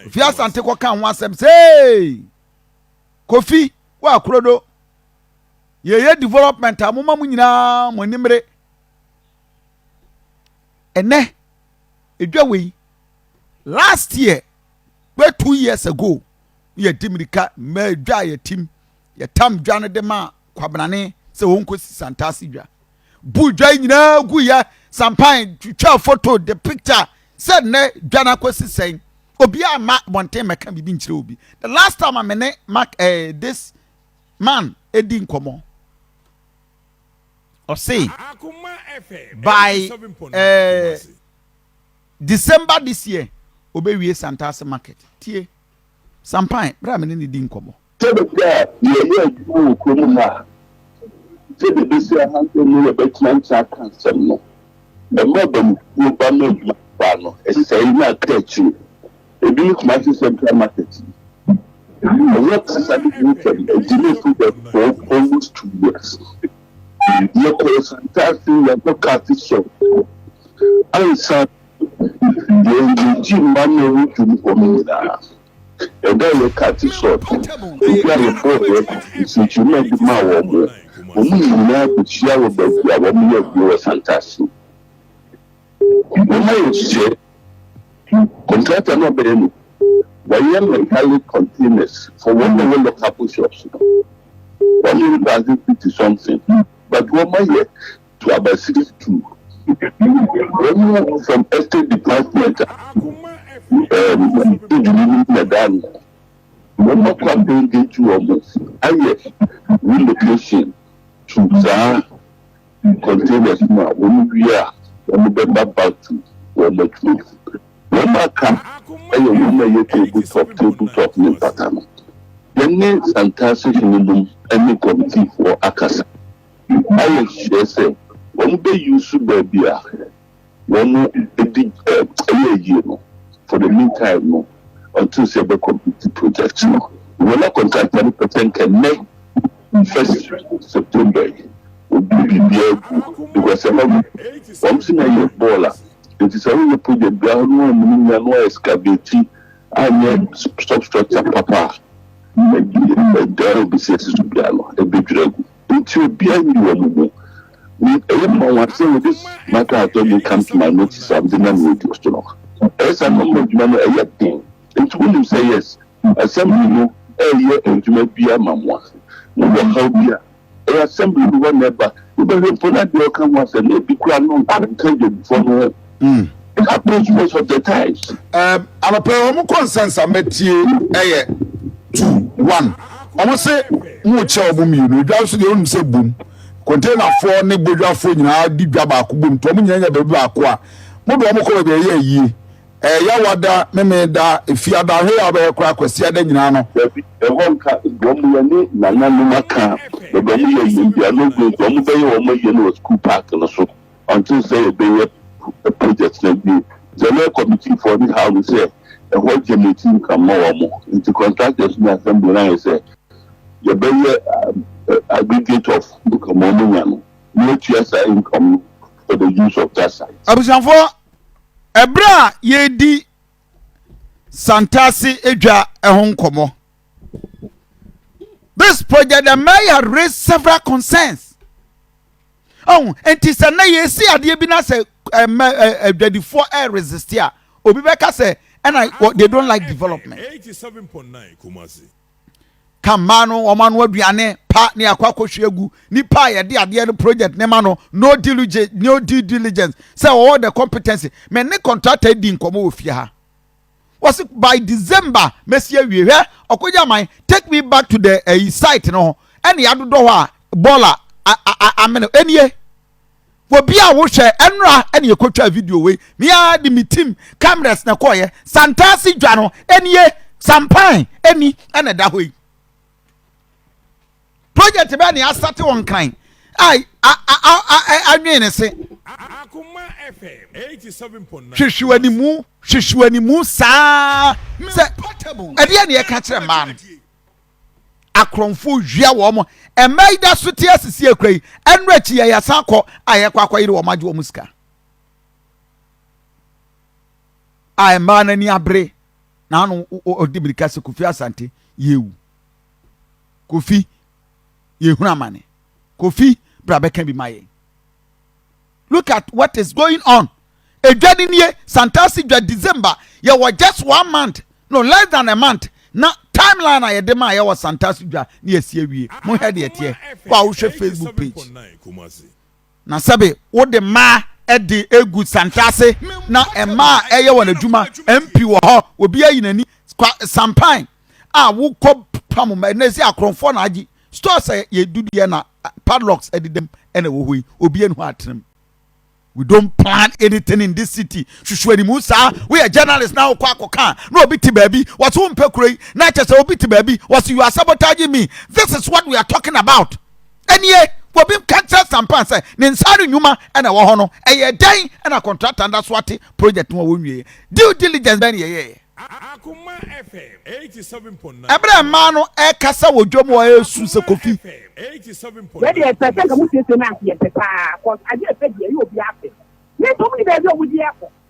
ofi asante kɔka ho asɛm sɛ kofi wɔ akorodo yɛyɛ development a moma mo nyinaa mo animere ɛnɛ ɛdwa wei last year bɛ two years ago yɛdi mmirika mmaa dwa a yɛtim yɛtam dwa no de ma kwabenane sɛ wɔnkɔsi santaase dwa buu dwa nyinaa guiɛ, sampae, twitwaa foto, de picture sɛ nnɛ dwa no akɔsi sɛn. Obiara mma abɔnten mmɛka biribi nkyerɛ obi. The last time a me ne Mark eh, this man di nkɔmmɔ, ɔse by eh, December this year, obewie Santase market. Tie, Sampae, berɛ a me ne no di nkɔmmɔ. Sɛbe bi a yɛɛyɛ adwuma wɔ kuro mu ha a, sɛdeɛ ɛbɛsi ahantan mu yɛ bɛteante aka nsɛm no, ɛma abamufuo ba ma adwuma no kɔ ano. Ɛsɛ sɛ yɛnya aka akyire. Ɛbi ne Kumasi Central Market. Ɛnyɛ kasa ne ho nsɛm, ɛdi me so bɛ for almost two years. Yɛkɔ Asantase, yɛkɔ Kafi Shop, ansa yɛn gyegye mma no ho dwom hɔ no nyinaa. Ɛda yɛ Kathy Sot, obi a yɛbɔɔ yɛ nsɛnkyerɛma bi maa wɔn, wɔn nyinaa bɛhyia wɔ baabi a wɔyɛ adwuma wɔ Santase. Wɔayɛ nhyehyɛe, contractor no a ɔbɛyɛ no, wayɛ metallic containers for wɔn a wɔwɔ lockable shops no, wɔn ne baako fifty something, but wɔayɛ. to aba series two wɔn from estate department a ɛɛ di dwuma no na ɛda ano wɔn akɔ abɛngage wɔn ayɛ relocation to saa containers mu a wɔn wie a wɔn bɛba back to wɔn atuo wɔn aka ɛyɛ wɔn a ɛyɛ table top table top ne mpata no yɛne santase hene nom ɛne kɔmitiifoɔ akasa. Ayɛ sure sɛ wɔn bɛ use baabi a wɔn di ɛyɛ yie no for the mean time no until sɛ yɛbɛ complete project no. Wɔ na contractor no pɛ sɛ nka nnɛ first September yi ɔde biribiara agu because ɛhɔ no wɔn se na yɛ bɔɔl a nti sɛ woyɛ project biara hɔ no wɔn mu nya no wɔn excavate anyɛ substructure papa a ɛda a ɔbɛsi asi so biara no ɛbɛdwiri agu. Nti obiara nyi wɔn mu. Me, ɛyɛ me nwanwa sɛ wɔde matter a attorney come to my notice a mede nam radio so no. Ɛyɛ saa na wɔma adwuma no ɛyɛ den. Nti wonim sɛ yes, Assembly no reyɛ adwuma biara ma mo a, mowɔ haw bi a, ɛyɛ Assembly no hɔ na ɛba. Wobɛhwɛ mpo na deɛ ɔka ho asɛm no, ebi koraa no nka Adwadifoɔ no ho. Mm. Approach most of the times. Um, anɔpɛ wɔn kɔ nsansa mɛtie ɛyɛ two one wɔn se mo kyɛ wɔn mmienu edwa nso deɛ wɔn sɛ bom kɔntɛnafoɔ ne bodwafoɔ nyinaa di dwa baako bom to wɔn nyinaa nya baabi baako a mo de wɔn kɔ baabi ɛyɛ ayie ɛyɛ wada meme da efi ada ahwɛ yɛ abɛyɛ kora akwasi ada nyinaa no. dabi ɛhɔ nka wɔn yɛ ne nananom aka na wɔn yɛ yie bi a no gu wɔn bɛyɛ wɔn yɛ no wɔ school park no so. Ɔnte sɛ yɛbɛyɛ project no awie. General committee foɔ ne haw no sɛ ɛhɔ generate income ma wɔn. Nti contractors ne assembly no ayɛ sɛ yɛbɛyɛ aggregate of income a wɔn nya no na yɛatua saa income no for the use of that site. Abusuafoɔ, ɛberɛ a yɛredi Santase adwa ho nkɔmmɔ, this project the mayor had raised several concerns. Ɔho, enti sɛ na yɛsi adeɛ bi na sɛ ɛmɛ adwadifoɔ ɛresiste a, obi bɛka sɛ ɛna they don't like development. Ka mmaa no wɔn ano aduane pa ne akɔ akɔhwie agu nipa a yɛde adeɛ no project ne ma no no diligence no due diligence sɛ wɔwɔ the competency mɛ ne contractor di nkɔmɔ wɔ fie ha. Wɔsi by December mɛsi awie hwɛ ɔkɔgye aman take me back to the ɛyi eh, site no ho ɛna yɛadodɔ hɔ a bɔɔla amene ɛnie obi a wohwɛ ɛnora ɛna yɛkɔtwa video wei mea de me team cameras na ɛkɔɔyɛ santaase dwa no ɛnie sampan ɛni ɛna ɛda hɔ yi project bɛɛ na yɛasate wɔ nkran anwen ne se hwehwe animu hwehwe animu saa sɛ ɛdeɛ na yɛka kyerɛ mmaa no akorɔmfo wia wɔn mo mmaa yi da so te asisi akura yi ɛno akyi yɛ yɛsan kɔ a yɛkɔ akɔyere wɔn agye wɔn sika a mmaa no ani abere na ano ɔde mirika sɛ kofi asante yɛwu kofi yɛhunu amane kofi bra bɛka bi ma yɛn look at what is going on edwa ni nie santase dwa december yɛwɔ just one month no less than a month na timeline a yɛde maa yɛwɔ santase dwa ne yɛsi awie mo hwɛ deɛ teɛ kɔ a wohwɛ facebook page Na sɛbe wode mmaa de gu santra ase na mmaa ɛyɛ wɔn adwuma, mpi wɔ hɔ, obi ayi n'ani, kwa sampan a wokɔ pam mmaa, na ɛsi akorɔmfoɔ na agye, store sɛ yɛ dudeɛ na padlocks ɛdedam ɛna ɛwɔ hɔ yi, obi ani hɔ atenam. We don't plan anything in this city. Susu animu saa. We are journalists now. Kwa koka. No obi ti baby. Was won pekuroi. Na chese obi ti baby. Was you are sabotaging me. This is what we are talking about. Ɛnneɛ, wɔbi ka kyerɛ Sampan sɛ ne nsa ano nnwuma na ɛwɔ hɔ no, ɛyɛɛ dɛn na kɔntrakta no da so ate projɛt no a wɔnwieeɛ? Due diligence bɛn na yɛyɛeɛ? Ɛberɛ a mmaa no rekasa wɔ dwam hɔ resu sɛ Kofi. Wɛde ɛsɛ sɛ nka mo siesie na ase yɛ pɛ paa cause adeɛ ɛpɛ deɛ ɛyɛ obi apɛ. Mento mo ne baabi a ɔmo di ɛkɔ.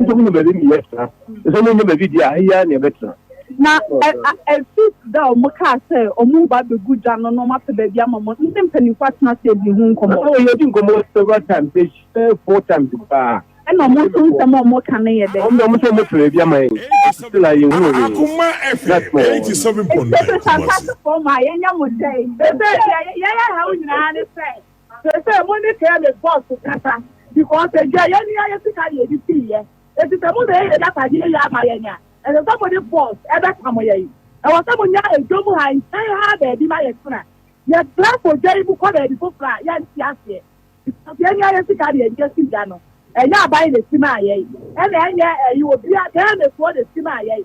Nso mo baabi mi yɛ tena. Nso mo nyɛ baabi di a ha yi ara na yɛ bɛ tena. Na ɛ a ɛfi da a ɔmo kaa sɛ ɔmo reba abegu gya no na ɔmo apɛ baabi ama mo ne mpanyinfo atena ase adi ho nkɔmɔ. Ɔɔ yɛ di nkɔmɔ several times yɛ hyia bɛyɛ four times paa. Ɛna ɔmo nso nsɛm a ɔmo ka no yɛ dɛ. Ɔmo de ɔmo sɛ ɔmo pɛ baabi ama yɛn still a yɛ hunu hwee. Akoma ɛfɛ eighty seven point nine Kumasi. Ɛsɛ sɛ asase fam a yɛ nyɛ mo dɛ. Ɛsɛ yɛ yɛ yɛ ha wo nyinaa ne sɛ. Sesei mo ne Caleb boss kasa because agya yɛn nua yɛ sika na yɛde sii yɛ enti sɛ mo na ɛyɛ yɛn agyapadeɛ yie ama yɛn a ɛsɛ sɛ mo ne boss ɛbɛpamo yɛn ɛwɔ sɛ mo nya ɛdwom ha nkyɛn ha baabi ma yɛ tena yɛ tra kɔ dwa yi mu kɔ baabi foforɔ a yɛn nte aseɛ because yɛn nua yɛ sika na yɛde asi dwa no ɛnyɛ aban na ɛsi maa yɛn ɛna ɛnyɛ ɛyi obi a Caleb foɔ na ɛsi maa yɛn.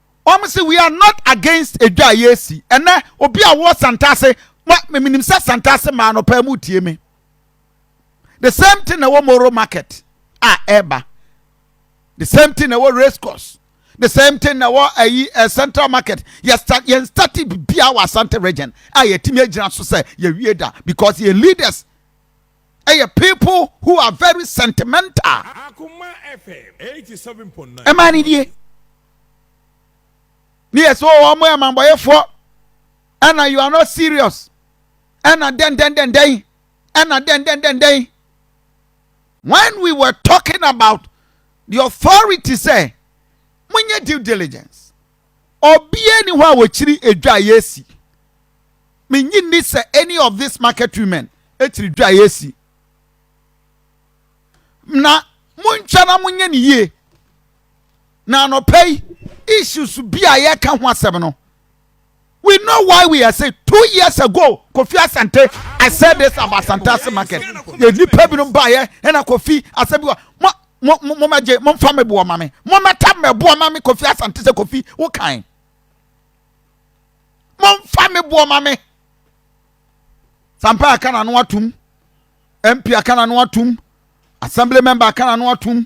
Wɔn se we are not against edwa a yɛresi. Ɛnɛ obi a ɔwɔ Santase, ma menim sɛ Santase maa no paa mu tie me. The same thing na ɛwɔ Moro market a ɛreba. The same thing na ɛwɔ race course. The same thing na ɛwɔ ayi eh, central market. Yɛn stati bibia wɔ Asante region a yɛtumi agyina so sɛ yɛwie da because yɛn leaders ɛyɛ eh, people who are very sentimental. Akoma FM 87.9. Ɛmaa ne die. ne yɛ sɛ wɔn yɛ amambɔyɛfoɔ ɛna you are not serious ɛna dɛndɛndɛndɛn ɛna dɛndɛndɛndɛn when we were talking about the authority sɛ monyɛ due diligence obiara ni hɔ a wɔkyiri edwa a yɛsi menyi ni sɛ any of this market women ɛkyiri dwa a yɛsi na montwa na monyɛ ne yie Na anɔpa yi issues bi a yɛka ho asɛm no we know why we are saying two years ago kofi asante i said this about santase market yɛ nipa binom baayɛ ɛna kofi asɛm bi wa mo mo mo mo mɛgye mo nfa mɛboɔ ma me mo mɛta mɛboɔ ma me kofi asante sɛ kofi wo kan mo nfa mɛboɔ ma me sampa aka na no atum mp aka na no atum assembly member aka na no atum.